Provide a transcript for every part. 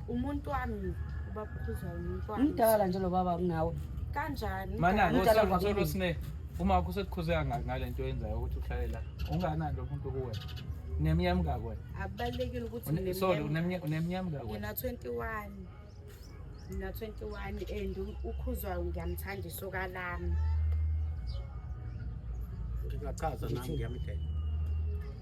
umuntu wami ubaba ukhuzwayo umuntu wami umdala nje lo baba kunawe kanjani manani Umdala usolo kwakini. sine uma wakho usekukhuze kangaki ngale nto oyenzayo ukuthi uhlale la unganani lo muntu kuwe uneminyaka mingaki wena akubalulekile ukuthi Une- sorry uneminyaka uneminyaka mingaki wena ngina 21 ngina 21 and u- ukhuzwayo ngiyamthanda isoka lami Ngingachaza nami ngiyamdela.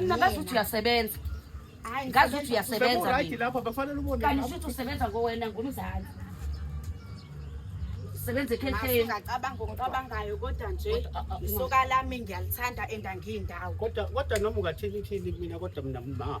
Mina ngazi ukuthi uyasebenza. Hayi ngazi ukuthi uyasebenza. Right lapha bafanele ubone. Kanti usuthi usebenza ngowena ngumzali. Sebenze ekhetheni. Ngacabanga ngokucabangayo kodwa nje isoka lami ngiyalithanda endangiyindawo. Kodwa kodwa noma ungathini ithini mina kodwa mina mama.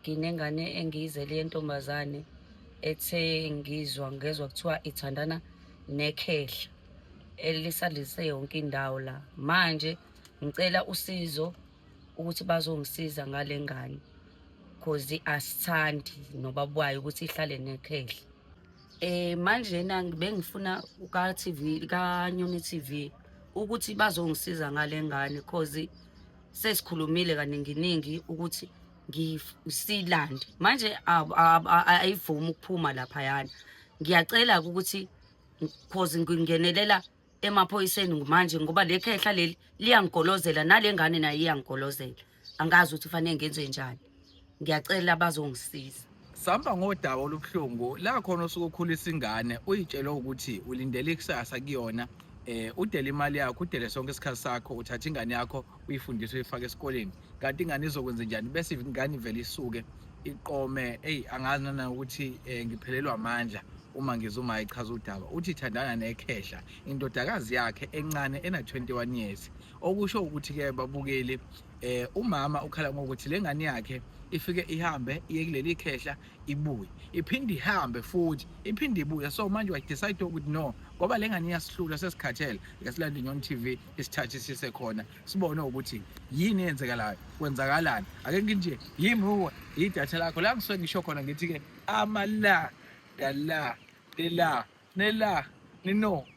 nginengane engiyizele yentombazane ethe ngizwa ngezwa kuthiwa ithandana nekhehla elisalise yonke indawo la manje ngicela usizo ukuthi bazongisiza ngale ngane cause asithandi noba bwayo ukuthi ihlale nekhehla eh manje na bengifuna ka TV ka Nyoni TV ukuthi bazongisiza ngale ngane cause sesikhulumile kaninginingi ukuthi ngisilande manje ayivumi ukuphuma laphayana ngiyacela ukuthi cause ngingenelela emaphoyiseni manje ngoba le khehla leli liyangigolozela nale ngane nayo iyangigolozela angazi ukuthi kufanele ngenze njani ngiyacela bazongisiza sihamba ngodaba olubuhlungu la khona osuke ukhulisa ingane uyitshelwe ukuthi ulindele ikusasa kuyona eh udele imali yakho udele sonke isikhathi sakho uthatha ingane yakho uyifundise uyifake esikoleni kanti ingane izokwenza njani bese ingane ivele isuke iqome eyi angazi nana ukuthi eh, ngiphelelwa amandla uma ngizuma ichaza udaba uthi ithandana nekhehla indodakazi yakhe encane ena-21 years okusho ukuthi-ke babukeli eh umama ukhala ngokuthi lengane yakhe ifike ihambe iye kuleli khehla ibuye iphinde ihambe futhi iphinde ibuye so manje wa decide ukuthi no ngoba lengane iyasihlula sesikhathele yasilanda inyoni TV isithathe sise khona sibone ukuthi yini eyenzekalayo kwenzakalani ake nginje yimi uwe idatha lakho la ngisuke ngisho khona ngithi ke amala dala dela nela nino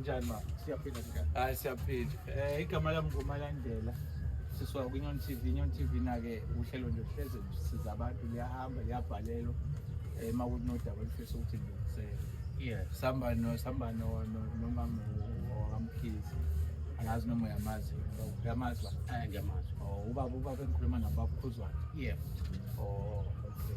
Njani ma? Siyaphila njani? Hayi siyaphila. Eh igama lami nguMalandela. Sisuka kwiNyon TV. Inyon TV nake uhlelo nje hleze siza abantu liyahamba liyabhalelwa. Eh makuthi nodaba olufisa ukuthi ngilungisele. Yeah. Samba no samba no no nomama wakamkhizi. Angazi noma uyamazi. Uyamazi ba? Eh ngiyamazi. Oh ubaba ubaba engikhuluma nabo baphuzwana. Yeah. Oh okay.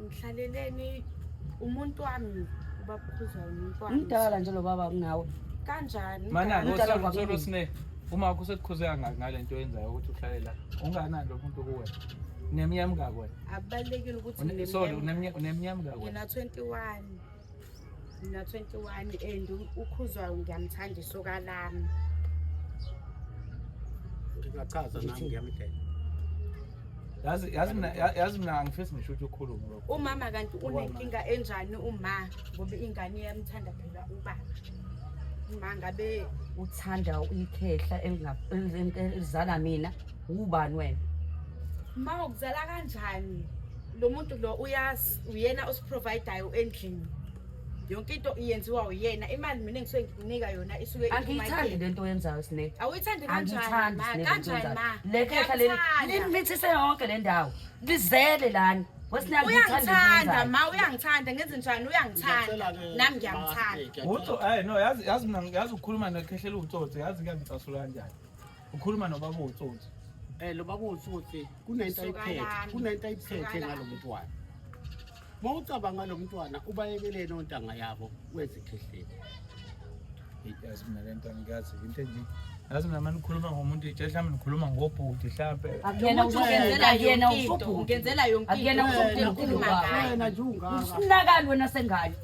ngihlaleleni umuntu wami ubabukhuza umuntu wami umdala nje lo baba kunawe kanjani manani Umdala usolo kwakini. sine uma wakho usekukhuze kangaki ngale nto yenzayo ukuthi uhlale la unganani lo muntu kuwe unemnyama kangaki wena akubalulekile ukuthi Une- sorry unemnyama- unemnyama kangaki wena ngina 21 na 21 and ukhuzwa ngiyamthanda isoka lami ngingachaza nami ngiyamdela yazi yazi mina yazi mina angifisi ngisho ukuthi ukhulume lokho umama kanti unenkinga enjani uma ngoba ingane yamthanda phela ubaba uma ngabe uthanda ikhehla elizala mina ubani wena ma ukuzala kanjani lo muntu lo uyazi uyena osiprovidayo endlini yonke into iyenziwa uyena imali mina ngisuke ngikunika yona isuke angiyithandi le nto oyenzayo sine awuyithandi kanjani ma kanjani ma le khehla leli limithise yonke le ndawo lizele lana uyangithanda ma uyangithanda ngenze njani uyangithanda nami ngiyamthanda uthi eh no yazi yazi mina yazi ukukhuluma nekhehlela utsotsi yazi kuyangicasula kanjani ukhuluma nobaba utsotsi eh lo baba utsotsi kunento ayiphethe kunento ayiphethe ngalo mntwana uma ucabanga lo mntwana ubayekeleni ontanga yabo kwezikhehleni yazi mina le nto angiyazi into enje yazi mina mani ukhuluma ngomuntu itshe mhlawumbe nikhuluma ngobhuti mhlawumbe akuyena nje ungaka usinakani wena sengane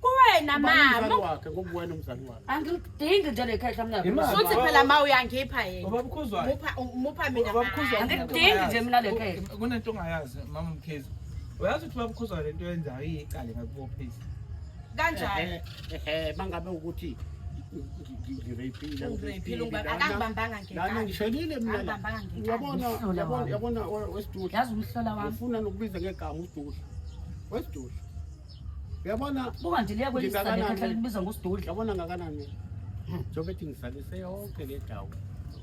kuwena mama wakhe ngobuwena umzali wakhe angilidingi nje lekhehla mna futhi phela ma uyangipha yena ubabukhuza mupha mupha mina ubabukhuza angilidingi nje mina lekhehla kunento ongayazi mama mkhizo uyazi ukuthi ubabukhuza lento yenzayo iyiqale ngakubophisa kanjani ehe bangabe ukuthi ngishonile mina uyabona uyabona uyabona wesidudla yazi umhlola wami ufuna nokubiza ngegama usidudla wesidudla Uyabona buka nje liya kweli sale khatha libizwa ngosidudla. Uyabona ngakanani? Njengoba ethi ngizalise yonke le dawo.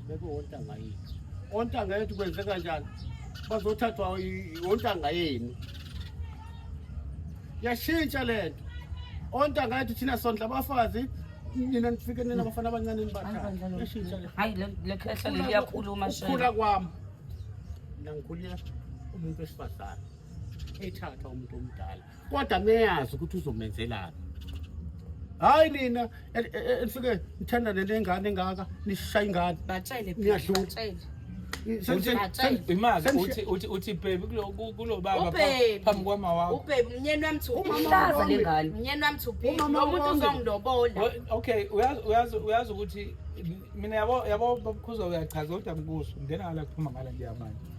Bebe wontanga yethu. Ontanga yethu kwenze kanjani? Bazothathwa ontanga yenu. Yashintsha lento. Ontanga yethu thina sondla abafazi nina nifike nina abafana abancane nibathathe. Yashintsha lento. Hayi le khehla liyakhuluma shela. Ukukhula kwami. Nangikhulile umuntu wesifazane. ethatha umuntu omdala kodwa meyazi ukuthi uzomenzelani hayi nina enifike e, e, nithandane nengane engaka nishaya ingane batshele niyadlula uthi bhebi kulo baba phambi kwama wakho ubhebi mnyeni wami thuihlaza le ngane mnyeni wami thuulo muntu uzongilobola okay uyazi ukuthi mina yabo yabo babukhuzwa uyachaza kodwa ngikuso ngena ngala kuphuma ngala nje yamanje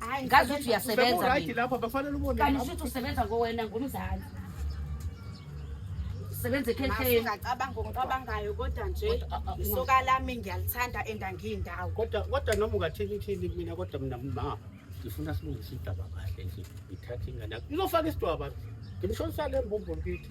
Hayi ngazi ukuthi uyasebenza mina. Lapha bafanele ubone. Kanti usuthi usebenza ngowena ngumzali. Sebenza ekhetheni. Ngacabanga ngokucabangayo kodwa nje ah, ah, isoka lami ngiyalithanda endangiyindawo. Kodwa kodwa noma ungathini thini mina kodwa mina mama ngifuna silungise idaba kahle nje. Ngithathe ingane yakho. Ngizofaka isidwaba. Ngimshonisa le mbumbulu kithi.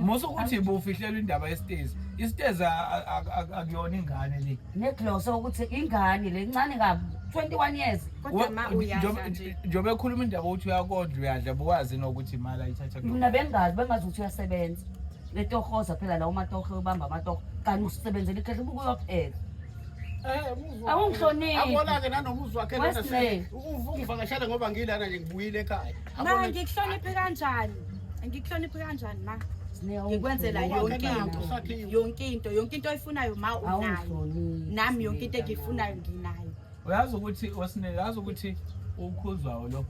musa ukuthi bufihlelwa indaba yesitezi isitezi akuyona ingane le neglosa ukuthi ingane le ncane kabi 21 years kodwa ma uyadla nje njengoba ekhuluma indaba ukuthi uyakondla uyadla buwazi nokuthi imali ayithatha mina bengazi bengazi ukuthi uyasebenza letohoza phela la umatohe ubamba amatohe kanti usebenzela ikhehle ubuke uyopheka eh, awungihloniphi akolake nanomuzi wakhe lona uvakashele ngoba ngilana nje ngibuyile ekhaya ngikuhloniphe kanjani ngikuhloniphe kanjani ma ngikwenzela yonke into yonke into yonke into oyifunayo ma unayo nami yonke into engiyifunayo nginayo uyazi ukuthi osinele uyazi ukuthi ukhuzwayo lo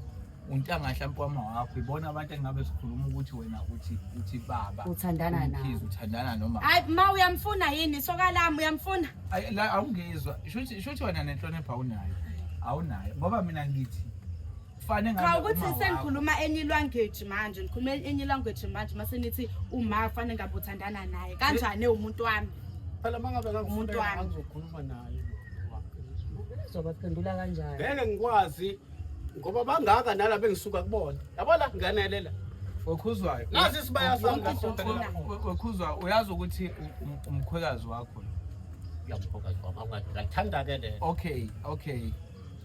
untanga hlampe wama wakho ibona abantu engabe sikhuluma ukuthi wena uthi uthi baba uthandana naye uthandana noma hayi ma uyamfuna yini sokalami uyamfuna la awungizwa shuthi shuthi wena nenhlonipho awunayo awunayo ngoba mina ngithi kufane ngabe cha ukuthi senikhuluma any language manje nikhuluma any language manje mase nithi uma kufane ngabe uthandana naye kanjani umuntu wami phela mangabe umuntu wami angizokhuluma naye uzobaphendula kanjani ngeke ngikwazi ngoba bangaka nala bengisuka kubona yabo la ngiyanelela wekhuzwayo nazi isibaya sami wekhuzwa uyazi ukuthi umkhwekazi wakho yamkhwekazi wakho ngathanda ke le okay okay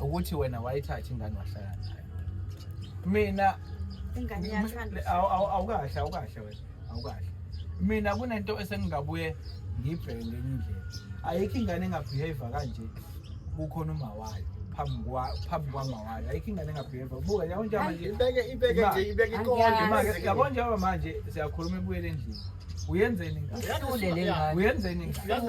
ukuthi wena wayithatha ingane wahlala nayo mina ingane yathanda awukahle awukahle wena awukahle mina kunento esengingabuye ngibheke ngenye indlela ayikho ingane engabehave kanje kukhona uma wayo phambi kwa phambi kwama wayo ayikho ingane engabehave buka yabo nje manje ibeke ibeke nje ibeke ikonke manje yabo nje manje siyakhuluma ebuyele endlini uyenzeni ngane uyenzeni ngane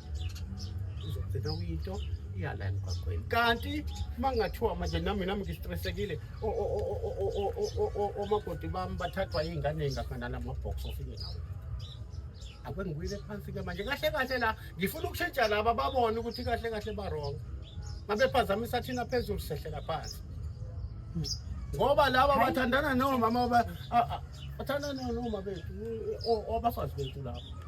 uzogcina uyinto yala emgwaqweni kanti mangathiwa manje nami nami ngistressekile omakoti bami bathathwa iy'ngane ey'ngafana lama-box ofike nawo akwengibuyile phansi-ke manje kahle kahle la ngifuna ukushintsha laba babone ukuthi kahle kahle barong mabephazamisa thina phezulu sehlela phansi ngoba laba bathandana nomama bathandana nomama bethu abafazi bethu laba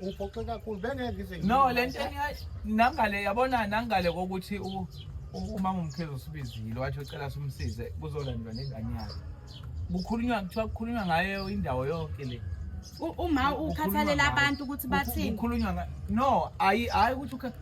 Uphoxe kakhulu bengeke ngize. No lento nangale yabona nangale kokuthi u umama umkhezo usibizile wathi ucela simsize kuzolandwa nengane yakhe. Kukhulunywa kuthiwa kukhulunywa ngayo indawo yonke le. Uma ukhathalela abantu ukuthi bathini? Kukhulunywa no ayi ayi ukuthi ukhathalela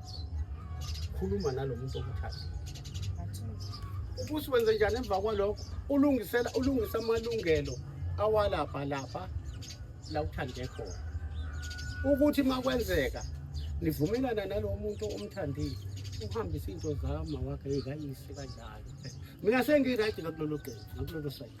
khuluma nalo muntu okuthatha ubusi wenze njani emva kwalokho ulungisela ulungisa amalungelo awalapha lapha la uthande khona ukuthi makwenzeka nivumelana nalowo muntu omthandile uhambise into zama wakhe yikayise kanjalo mina sengirayidi ngakulolo gqeji ngakulolo sayidi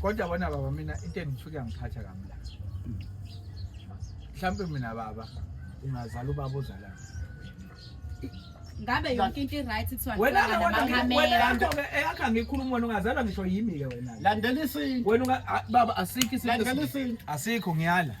kodwa bona baba mina into engithuke yangiphatha kamla mhlawumbe mina baba ungazala ubaba ozalayo ngabe yonke into i-right kuthiwa wena ngicabanga wena namakhamera yakho ke eyakho angikhulumi wena ungazalwa ngisho yimi ke wena Landela isintu. wena unga- a- baba asikho isintu Landela esinye. isintu. asikho ngiyala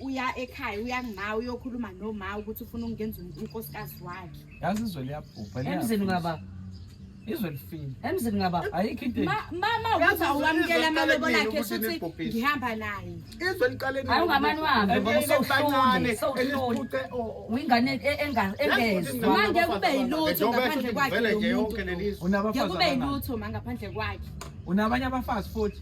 uya ekhaya uya ngima uyokhuluma noma ukuthi ufuna ukungenza unkosikazi wakhe yazi izwe liyabhubha emzini ngaba izwe lifile emzini ngaba ayikho into mama ukuthi awamukela amalobolo akhe shuthi ngihamba naye izwe liqaleni ayi ungamani wami ngoba usawuhloni sawuhloni wingane e, engezi manje kube yilutho ngaphandle kwakhe unabafana ngeke kube yilutho mangaphandle kwakhe unabanye abafazi futhi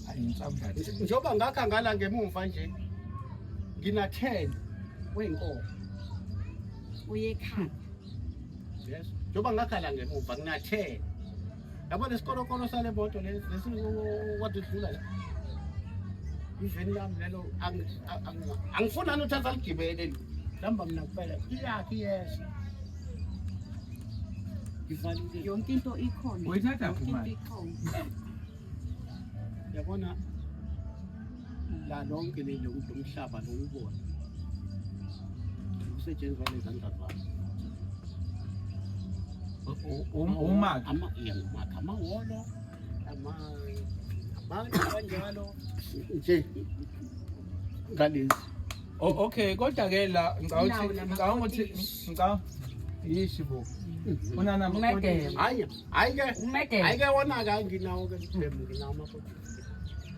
njengoba ngakha ngala ngemumva nje ngina 10 wenkomo uyekhanda yes njengoba ngakha la ngemumva ngina 10 yabo lesikolokolo sale moto lesi wadudlula la iveni lami lelo angifuna nothatha ligibele lamba mina kuphela iyakhi yesha yonke into ikhona yabona la lonke leli lokuthi umhlaba lokuwubona kusetshenziswa nezandla zakho umakhe umakhe amahholo abantu kanjalo nje ngalezi okay kodwa ke la ngicabanga ukuthi ngicabanga yishi bo unana hayi Hayi ke umedela. Hayi ke wona ke nginawo ke problem nginawo amaphutha.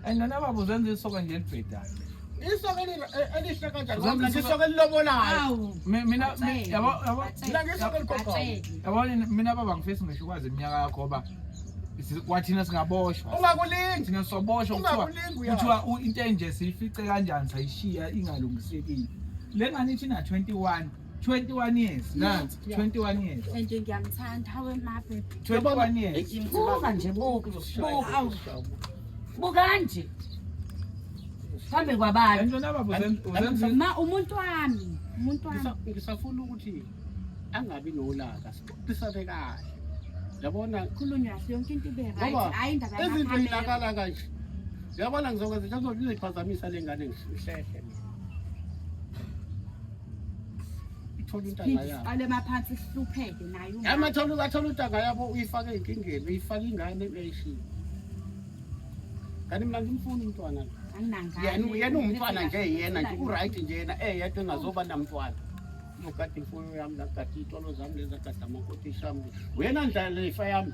And nana babo zenza isoka nje elibhedayo. Isoka eh, elihle kanjani? Mina ngisoka elilobolayo. Mina yabo yabo. Mina ngisoka eligogo. Yabo mina baba ngifisa ngisho kwazi iminyaka yakho ngoba kwathina singaboshwa ungakulingi thina soboshwa kuthiwa into enje siyifice kanjani sayishiya ingalungisekile le ngane ithi na 21 21 years nansi 21 years nje ngiyamthanda hawe mabe 21 years buka nje buka buka buka nje phambi kwabani ma umuntu wami umuntu wami ngisafuna ukuthi angabi nolaka sibukisane kahle yabona khulunywa kahle yonke into ibe right hayi indaba yakho izinto ilakala kanje yabona ngizokwenza njengoba ngizoyiphazamisa lengane ngihlehle thola untanga yabo ale maphansi sihlupheke nayo yama thola ukathola untanga yabo uyifake enkingeni uyifake ingane uyayishiya kanti mina ngimfuni umntwana yena yena umntwana nje yena nje uright nje yena eh yedwa engazoba namntwana nogada imfuyo yami nagada iy'tolo zami lezi agada amakotishi ami wena ndlala ifa yami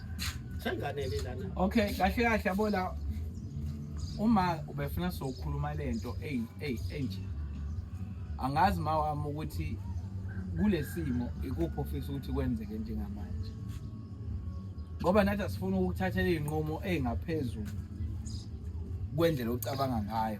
Senganele lana. Okay, kahle kahle yabo la uma ubefuna sokukhuluma lento ey ey enje. Angazi mawami ukuthi kulesimo ikuphi ofisa ukuthi kwenzeke njengamanje. Ngoba nathi asifuni ukuthatha izinqumo ezingaphezulu kwendlela ocabanga ngayo.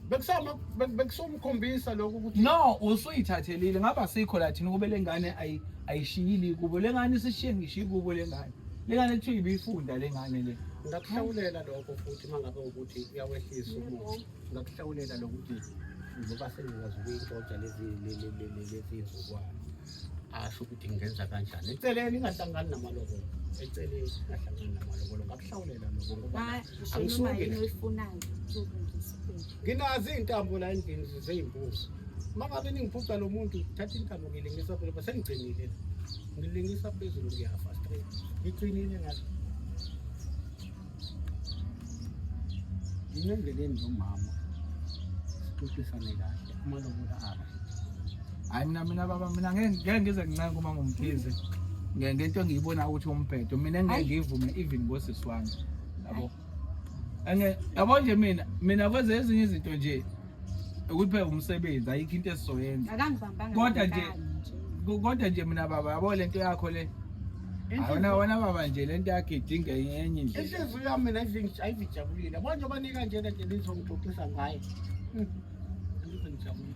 Bekusama bek- bekusomkhombisa lokho ukuthi no usuyithathelile ngaba sikho la thina ukube lengane ayi- ayishiyile kubo lengane isishiye ngishiye kubo lengane lengane kuthiwa ibifunda lengane le ngakuhlawulela lokho futhi uma ngabe ukuthi uyawehlisa umuntu ngakuhlawulela lokuthi ngoba sengikwazi ukuyixoxa lezi le- le- le- le- lezi zizukwana asho ukuthi ngenza kanjani eceleni ingahlangani namalobolo eceleni ingahlangani namalobolo ngakuhlawulela loko ngoba angisuke nginazi iy'ntambo la endlini zey'mbuzi uma ngabe ningiphuca lo muntu thatha intambo ngilingisa phela ba sengigcinile ngilingisa phezulu ngiyafa straight ngigcinile ngathi Yini endleleni nomama sixoxisane kahle amalobula aba. Hayi mina mina baba mina ngeke ngeke ngize ngincenge uma ngumthize. Nge- Ngento engiyibona ukuthi umbhedo mina ngeke Hayi. ngivume even ngosisi wami. Yabo. Ange yabo nje mina mina kwenze ezinye izinto nje ukuthi phela umsebenzi ayikho into esizoyenza akangibambanga Kodwa nje- ngekani Ko- kodwa nje mina baba yabo lento yakho le awona wona baba nje lento yakhe idinga enye indlela inhliziyo yami mina izingi- ayizijabulile bonje banika njena nje lizongixoxisa ngaye Mm. Angizwe ngijabulile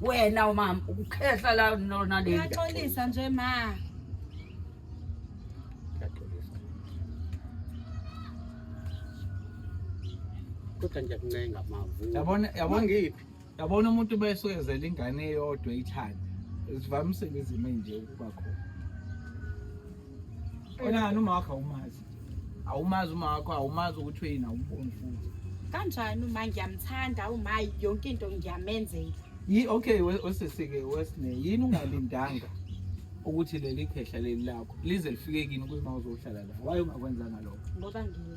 wena umama ukukhehla la nona le uyaxolisa nje ma kodwa nje kuncenga mavu yabona yabona ngiphi yabona umuntu besoyezela ingane eyodwa ithanda zivamisile izimo enje ukuba khona Onani uma wakho awumazi. Awumazi uma wakho awumazi ukuthi uyini awumboni futhi. Kanjani uma ngiyamthanda uma yonke into ngiyamenzela. Yi okay wesesike wesine yini ungalindanga ukuthi leli khehla leli lakho lize lifike kini ukuthi mawuzohlala la. Waye ungakwenzanga lokho. Ngoba ngiyi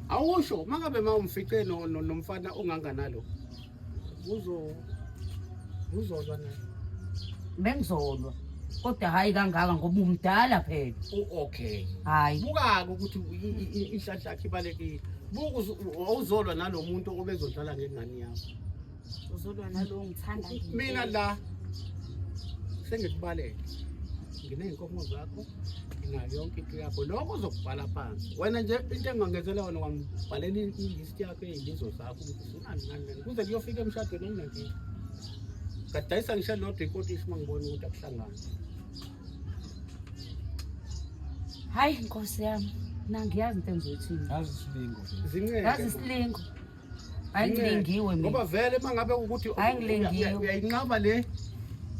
Awusho mangabe mawumfice no nomfana ongangana lo. Uzo uzolwa naye. Bengizolwa. Kodwa hayi kangaka ngoba umdala phela. Okay. Hayi. Buka ukuthi inhlanhla yakhe ibalekile. Buku awuzolwa nalomuntu obezodlala ngengane yakho. uzolwa nalowo ngithanda mina la sengikubalele nginey'nkomo zakho nginayo yonke into yakho lokho uzokubhala phansi wena nje into engangezela wona wangibhalela ilist yakho ey'lizo zakho ukuthi ufunani ngani lena kuze kuyofika emshadweni enginankinga ngadayisa ngishe lodwa inkotishi uma ngibona ukuthi akuhlangani hayi nkosi yami nangiyazi into engizoyithini ngazi isilingo nje zinqeke ngazi isilingo angilingiwe ngoba vele uma ngabe ukuthi angilingiwe uyayinqaba le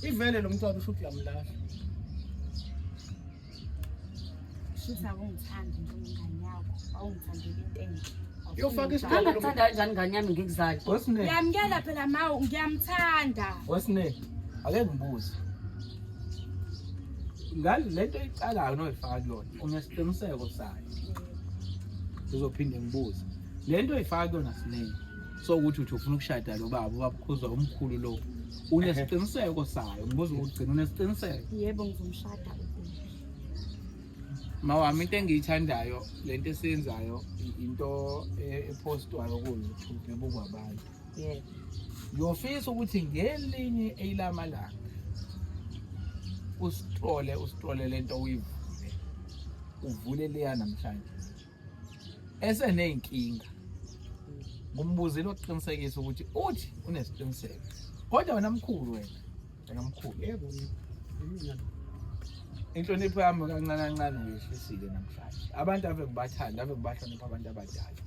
ivele lo mntwana usho ukuthi uyamlahla shuthi akungithandi njengengane yakho awungithandeli into enhle yofaka isicelo ngithanda kanjani ngane yami ngikuzali ngiyamkela phela mawu ngiyamthanda wesine ake ngibuze ngale lento iqalayo noyifaka kuyona unesiqiniseko sayo ngizophinde ngibuze le nto oyifaka kuyona siningi so ukuthi uthi ufuna ukushada lo baba ubabukhuzwa umkhulu lo unesiqiniseko sayo ngibuza ukuthi gcina unesiqiniseko yebo ngizomshada mawami into engiyithandayo le nto esiyenzayo into e-, ephostwayo kuyo ebukwa abantu yebo ngiyofisa ukuthi ngelinye eyilamalanga usitrole usitrole lento uyivule uvule leya namhlanje eseneyinkinga ngumbuzile oqinisekisa ukuthi uthi unesiqiniseko kodwa wena mkhulu wena Ngamkhulu yebo mina inhlonipho yami kancane kancane ngiyehlisile namhlanje abantu ave ngibathanda ave ngibahlonipha abantu abadala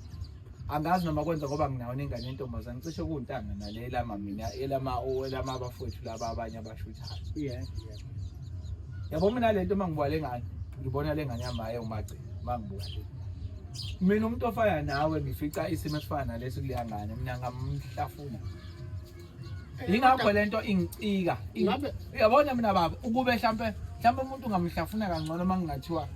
angazi noma kwenza ngoba nginawo nengane yentombazane cishe kuwuntanga nale elama mina elama elama abafowethu laba abanye abashuthayo yeah yeah yabo mina le nto uma ngibuka le ngane ngibona le ngane yami hayi umagcina uma ngibuka le mina umuntu ofana nawe ngifica isimo esifana nalesi kuleya ngane mina ngamhlafuna yingakho lento ingicika Ingabe- uyabona mina baba ukube hlampe hlampe umuntu ungamhlafuna kangcono uma kungathiwa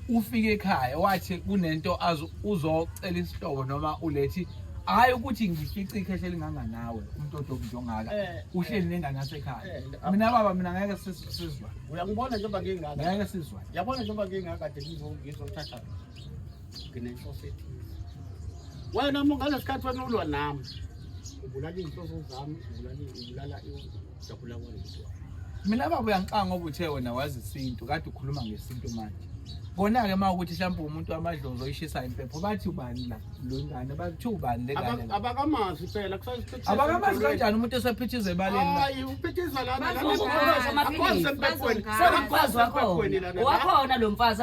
ufike ekhaya wathi kunento azo- uzocela isihlobo noma ulethi hhayi ukuthi ngifice ikhehla elinganganawe umuntu odobi njongaka Eh, uhleli nengane yasekhaya eh, ah. mina baba mina ngeke sis- sizwa uyangibona njengoba ngingaka ngeke sizwa yabona njengoba ngingaka de ngizothatha nginenhloso ethize wena uma ngalesi khathi wena ulwa nami ubulala iy'nhloso zami ubulala ujabula kwalento mina baba uyangixanga ngoba uthe wena wazi isintu kade ukhuluma ngesintu manje kona-ke uma ukuthi mhlawumbe umuntu wamadlozi oyishisayo impepho bathi ubani la lo ngane bathi ubani le ngane la abakamazi phela kusaziphithiza abakamazi kanjani umuntu esephithiza ebaleni hayi uphithiza lana lana akwazi empepweni akwazi wakho wakhona lo mfazi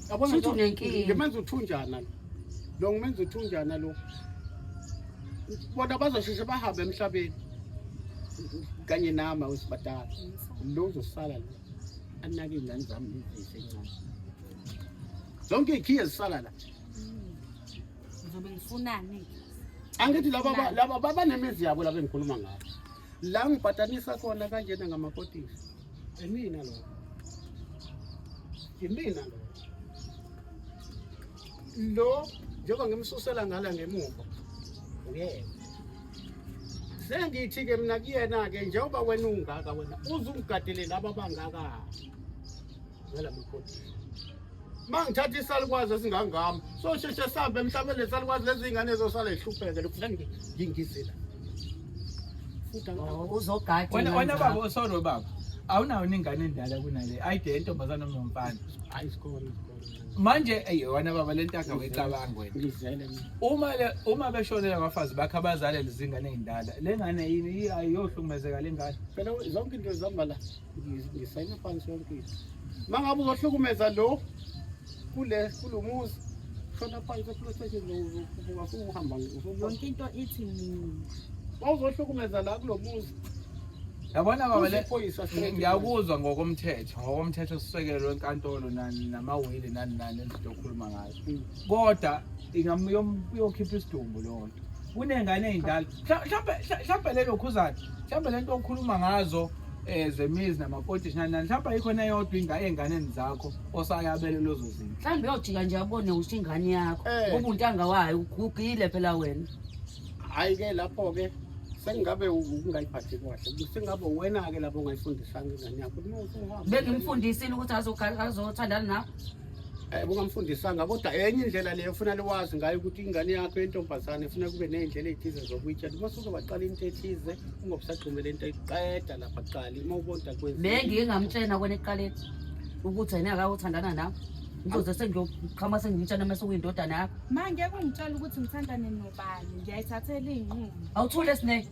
Yabona Shuthi unenkinga. ngimenza uthunjana lo. Lo ngimenza uthunjana lo. Bona bazosheshe bahambe emhlabeni. Kanye nama wesibadala. Lo uzosala lo. Anake ingane zami izise incane. Zonke ikhiye zisala la. Ngizobe ngifunani? Angithi laba ba- laba babanemizi yabo laba engikhuluma ngabo. La ngipatanisa khona kanjena ngamakotisi. Imina lo. Imina lo. Lo njengoba ngimsusela ngala ngemuva. Uyena. Sengithi ke mina kuyena ke njengoba wena ungaka wena uzungigadele laba bangaka. Ngala mkhulu. mangithatha isalukwazi esingangami sosheshe sambe mhlawumbe lesalukwazi lezingane zosala ihlupheke lokufuna ngingizela oh, uzogada wena wena baba osoro baba awunawo ningane endala kunale ayide yentombazana nomfana hayi isikole manje eyona baba lento akawecabanga wena ngizele uma le uma beshonela abafazi bakhe abazalele izingane ezindala lengane yini ayohlukumezeka lengane phela zonke into zihamba la ngisayina phansi yonke into uma ngabe uzohlukumeza lo kule kulo muzi shona phansi eplot station usuhamba yonke into ithi mina wawuzohlukumeza la kulo muzi yabona baba le ngiyakuzwa ngokomthetho ngokomthetho sisekelo wenkantolo nani namawili nani nani engizokhuluma ngayo hmm. kodwa ingamuyokhipha isidumbu lonto kunengane ey'ndala mhlawumbe mhlawumbe lelo khuzana mhlawumbe lento okhuluma ngazo eh zemizi namakotish nani mhlawumbe ayikhona yodwa inga enganeni zakho osayabele lozo zinto mhlawumbe uyojika nje abone ukuthi ingane yakho eh. ngoba untanga wayo ugugile phela wena hayi ke lapho ke sengabe ungayiphathi kahle sengabe wena ke lapho ungayifundisanga ingane yakho bengimfundisile ukuthi azothandana nawe Eh, bungamfundisanga kodwa enye indlela leyo ufuna liwazi ngayo ukuthi ingane yakho yentombazane ifuna kube ney'ndlela ey'thize zokuyitsha uma suzobaqala into ethize ungobusagxumele into eqeda lapha kuqali uma ubonta kwenzi nengike ngamtshena kwena ekuqaleni ukuthi yena akawuthandana nawe ngizoze sengiyoqhama sengimtshana mase kuyindodana yakho ma ngeke ungitshela ukuthi ngithandane nobani ngiyayithathela iy'nqumo awuthule sine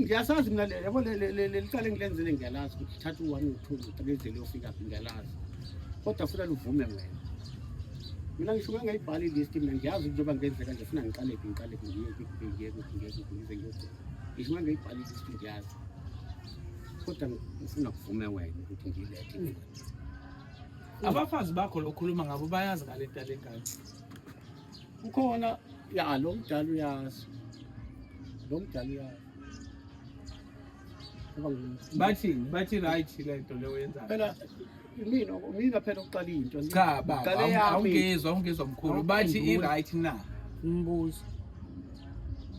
ngiyasazi mina le yabo licala engilenzile ngiyalazi ukuthi thatha u-one u-two u-three indlela yofika phi ngiyalazi kodwa funa luvume wena mina ngisho uma ngayibhala ilist mina ngiyazi ukuthi njengoba ngenzeka nje funa ngiqale phi ngiqale phi ngiye kuphi ngiye kuphi ngiye kuphi ngize ngiyogcina ngisho uma ngayibhala ilist ngiyazi kodwa ngifuna kuvume wena ukuthi ngiyilethe abafazi bakho lokhuluma ngabo bayazi ngale nto yalengane ukhona ya lo mdala uyazi lo mdala uyazi bathi bathi right le nto le oyenzayo phela mina mina phela uqala into cha baba awungizwa awungizwa mkhulu bathi i right na umbuzo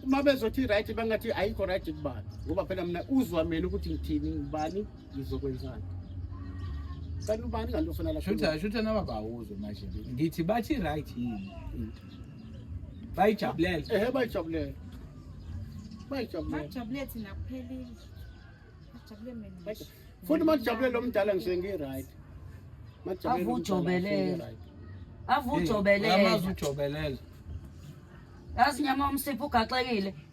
uma bezothi right bangathi ayikho right kubani ngoba phela mina uzwa mina ukuthi ngithini ngubani ngizokwenzani kanti ubani kanti ofuna lashutha shutha nababawuzwe manje ngithi bathi right yini bayijabulele ehe bayijabulele bayijabulele bayijabulele thina kuphelile bajabule mina futhi majabule lo mdala ngise ngi-right majabule avujobelele avujobelele amazi ujobelele yazi nyama umsipho ugaxekile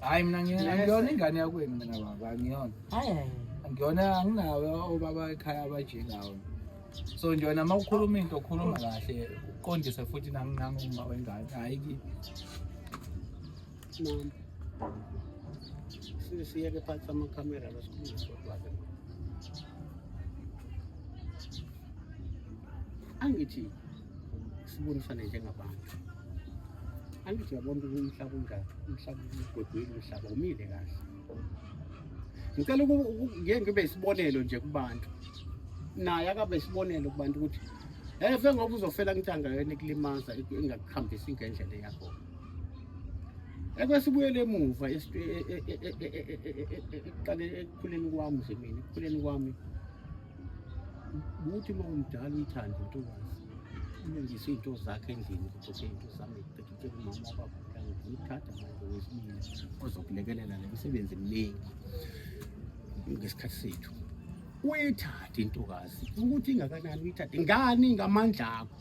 Hayi mina ngiyona ingane yakwenu mina baba ngiyona. Hayi hayi. Ngiyona anginawe obaba ekhaya abajengawo. So nje wena uma ukhuluma into ukhuluma kahle uqondise futhi nami nami uma wengane hayi ki. Mama. Siyeke phansi ama camera basikhuluma sodwa. Angithi sibonisane njengabantu angithi uyabona ukuthi umhlaba unjani umhlaba ugwegwile umhlaba umile kahle ngicela ngeke ngibe isibonelo nje kubantu naye akabe isibonelo kubantu ukuthi efe ngoba uzofela ngithanga yona ikulimaza ingakuhambisi ngendlela yakho ekwesibuyele emuva ekuqaleni ekukhuleni kwami nje mina ekukhuleni kwami ukuthi uma umdala uyithande intokazi ulungise iy'nto zakhe endlini kuzoke iy'nto zami qekike kumama wababulanga ngimthatha manje wesibili ozokulekelela le misebenzi eminingi ngesikhathi sethu uyithathe intokazi ukuthi ingakanani uyithathe ngani ngamandla akho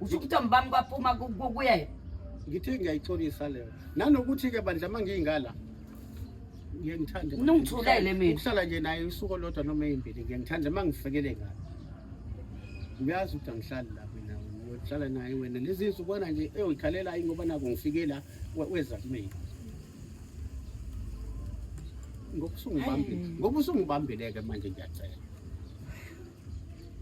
usho ukuthi ambami kwaphuma kuyena ngithi ngiyayixolisa leyo nanokuthi ke bandla uma ngiyingala ngiyangithanda nungithulele mina ukuhlala nje naye usuku lodwa noma eyimbili ngiyangithanda uma ngifikele ngalo uyazi ukuthi angihlali la mina ngiyohlala naye wena lezi nsukwana nje eyikhalela ayi ngoba nako ngifike la weza kumina ngokusungibambile ngoba usungibambile-ke manje ngiyacela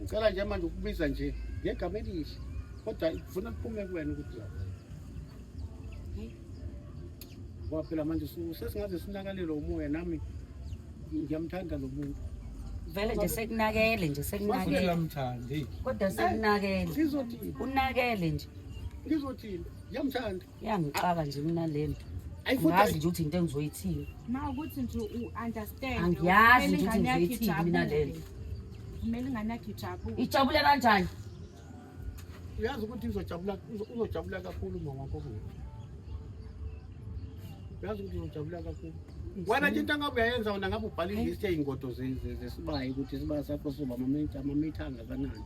Ngicela nje manje ukubiza nje ngegama elihle kodwa ngifuna kuphume kuwena ukuthi la ngoba phela manje su- sesingaze sinakalelwe umoya nami ngiyamthanda lo muntu vele nje sekunakele nje sekunakele Uyamuthanda, hey. kodwa sekunakele sizothini unakele nje ngizothini ngiyamthanda Yangixaka nje mina lento. Ngazi nje ukuthi into engizoyithini. Ma ukuthi nje u understand. Angiyazi nje ukuthi ngizoyithini mina lento. Kumele ingane yakhe ijabule. Ijabule kanjani? Uyazi ukuthi uzojabula uzojabula kakhulu mama wakho. Uyazi ukuthi uzojabula kakhulu. Wena nje into angabe uyayenza wena ngabe ubhala ilist yey'ngodo zesibayi ukuthi isibaya sakho soba amamitha amamitha angakanani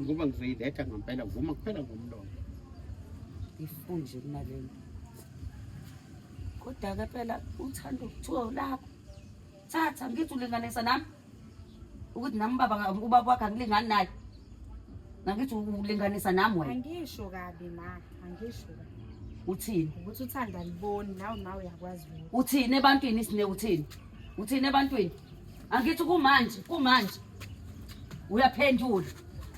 ngoba ngizoyiletha ngampela vuma kuphela ngomlomo ngifuni nje kunalento kodwa-ke phela uthanda ukuthiwa ulakho thatha ngithi ulinganisa nami ukuthi nami ubaba ubaba wakhe angilingani naye nangithi ulinganisa nami wena angisho kabi ma angisho kabi uthini ukuthi uthanda liboni nawe ma uyakwazi uthini ebantwini isine uthini uthini ebantwini angithi kumanje kumanje uyaphendula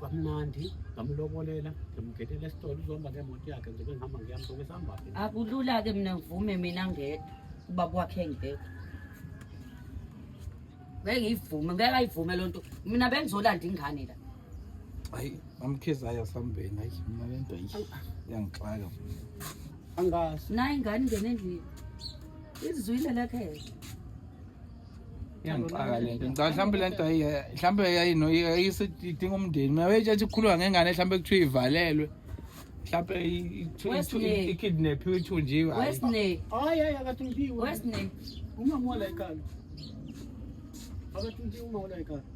kamnandi ngamlobolela ngimgedela esitolo uzohamba ngemoto yakhe ngibe ngihamba ngiyami soke sihambaphi akulula-ke mina ngivume mina ngedwa uba kwakhe ngedwa ngeke ngiyivume ngeke ayivume loo nto mina bengizolanda ingane la hayi amkhizi ayo sambeni hayi mina le nto iyangixaka angazi nayo ingane ingene endlini izizwile lekhele iyangixaka le nto ngicabanga mhlawumbe le nto mhlawumbe yayidinga umndeni mina wayetshathi kukhuluma ngengane mhlawumbe kuthiwa ivalelwe mhlawumbe ikidnaphiwe ithunjiwe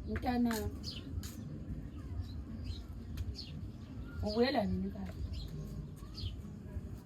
mntana ubuyela nini kalo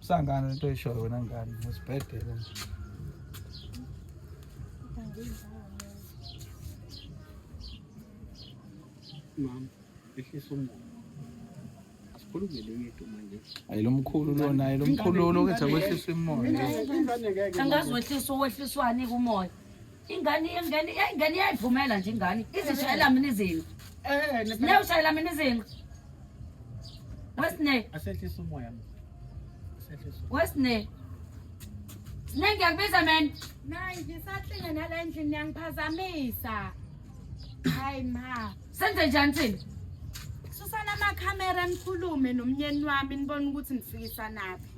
Usangane into oyishoyo wena ngane ngesibhedela. Mama, ehlisa umoya. Asikhulumele yethu manje. Hayi lo mkhulu lona, hayi lo mkhulu lo kwenza kwehlisa umoya. Angazi wehlisa uwehliswani kumoya. ingane ingane ingane iyayivumela nje ingane izishayela mina izinto eh ne ushayela mina izinto wesine asehlisa umoya asehlisa wesine sine ngiyakubiza man nayi ngisahlinga nala endlini yangiphazamisa hayi ma senze njani thina susana amakhamera nikhulume nomnyeni wami nibone ukuthi nifikisa naphi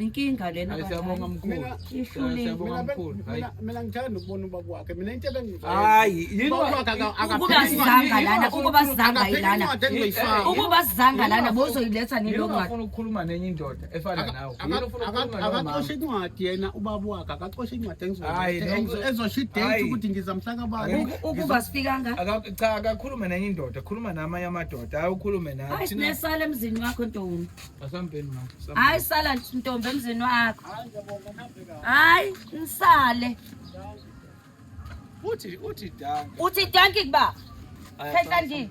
Inkinga lena Hayi, siyabonga abadala. mkhulu. Mina- Hayi, Ihlulile. Siyabonga Mina ben- mkhulu. mina- Hayi. mina ngithanda nokubona uba kwakhe mina into ebengizwa Hayi, yini wa- Ukuba sizanga lana, ukuba sizanga ilana. Ukuba sizanga lana bozoyiletha Yini nilo ungafuna ncwadi. ukukhuluma nenye indoda efana nawe? Yini ufuna ukukhuluma nawe, mama? akacoshe incwadi yena ubaba wakhe akacoshe incwadi Hayi, no, ku- ezosho idate hayi. ukuthi ngiza mhlaka bani Uku- Ukuba sifikanga. Aka- Cha, akakhulume nenye indoda, khuluma namanye amadoda, hayi ukhulume nathi. Hayi sinesala emzini wakho ntombi. hayi sala ntombi emzini wakho hayi nisale uthi uthi danki uthi danki kuba khetha ndini